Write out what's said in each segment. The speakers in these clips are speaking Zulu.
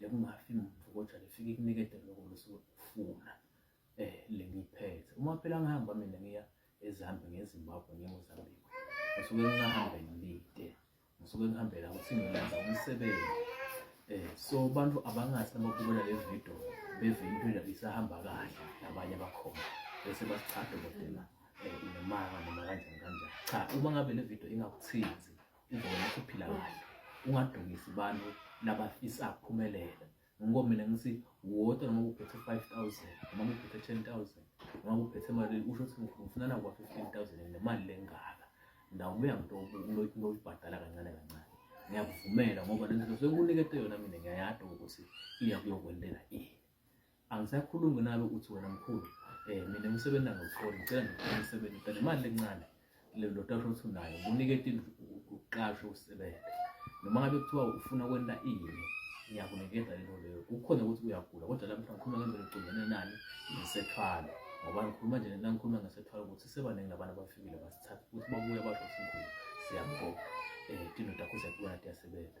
lekungafi muntu kodwa lifike ikunikede lokho losuke ufuna eh lengiphethe uma phela ngihamba mina ngiya ezambe ngezimbabwe ngiyozambile ngisuke ngihambe ngilide ngisuke ngihambela ukuthi ngiyenza umsebenzi eh so abantu abangathi nababukela le video beve into endabe isahamba kahle nabanye bakhona bese basichade kodela eh, nemanga noma kanjani kanjani cha uma ngabe le video ingakuthinzi Ingoma uphila kahle. Ungadumisi abantu labafisa kuphumelela. Ngoba mina ngithi wodwa noma uphethe 5000 noma uphethe 10000 noma uphethe imali usho ukuthi ngifuna na kwa 15000 nemali lengaka. Ndawo buya ngito ngibhadala kancane kancane. Ngiyakuvumela ngoba lento sekunikete yona mina ngiyayazi ukuthi iya kuyokwendela ini. angisakhulumi nawe uthi wena mkhulu eh mina umsebenzi angawutholi ngicela ngifuna umsebenzi ngicela imali lencane lelo tata othi unayo ngunike tindlu uqashe usebenze noma ngabe kuthiwa ufuna kwenta ini ngiyakunikeza lento leyo kukhona ukuthi uyagula kodwa la mhlawumbe ngikhuluma ngendlela eqondene nani ngisethwala ngoba ngikhuluma nje nangikhuluma ngisethwala ukuthi sebaningi abantu abafikile basithatha ukuthi babuye basho ukuthi mkhulu siyamkhokha um eh, tino takho siyakubona tiyasebenza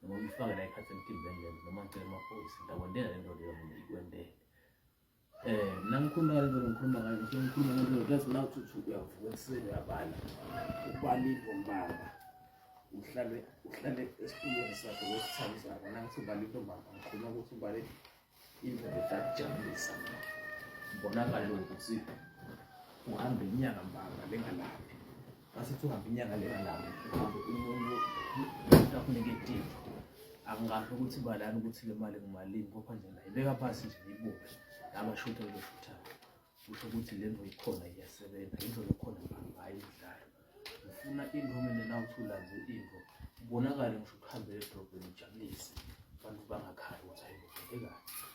noma uyifake la ikhathi emtimbeni lento noma ngicela amaphoyisa ngiyakwendela le nto leyo mina ikwendele um mna ngikhuluma ngale nto ngikhuluma ngayo ngise ngikhuluma ngale nto that's now thuthi uyavuka ekuseni uyabala ubalile umbamba uhlale uhlale esitulweni sakhe wesithandi sakho nangithi ubale intombamba ngikhuluma ukuthi ubale indoda akujabulisa mbonakala ukuthi uhambe inyanga mbanga lengalaphi masithi uhambe inyanga lengalaphi uhambe umuntu akunike tini angazi ukuthi balani ukuthi le mali ngumalini kopha nje nayo beka phasi nje ibuke nabashutha beshuthayo kusho ukuthi le nto ikhona iyasebenza into lokhona hhayi imidlalo ngifuna into kumele nawuthula nje into ubonakale ngisho ukuhambela edrobheni ujabulise abantu bangakhali ukuthi hayi ngibheke kahle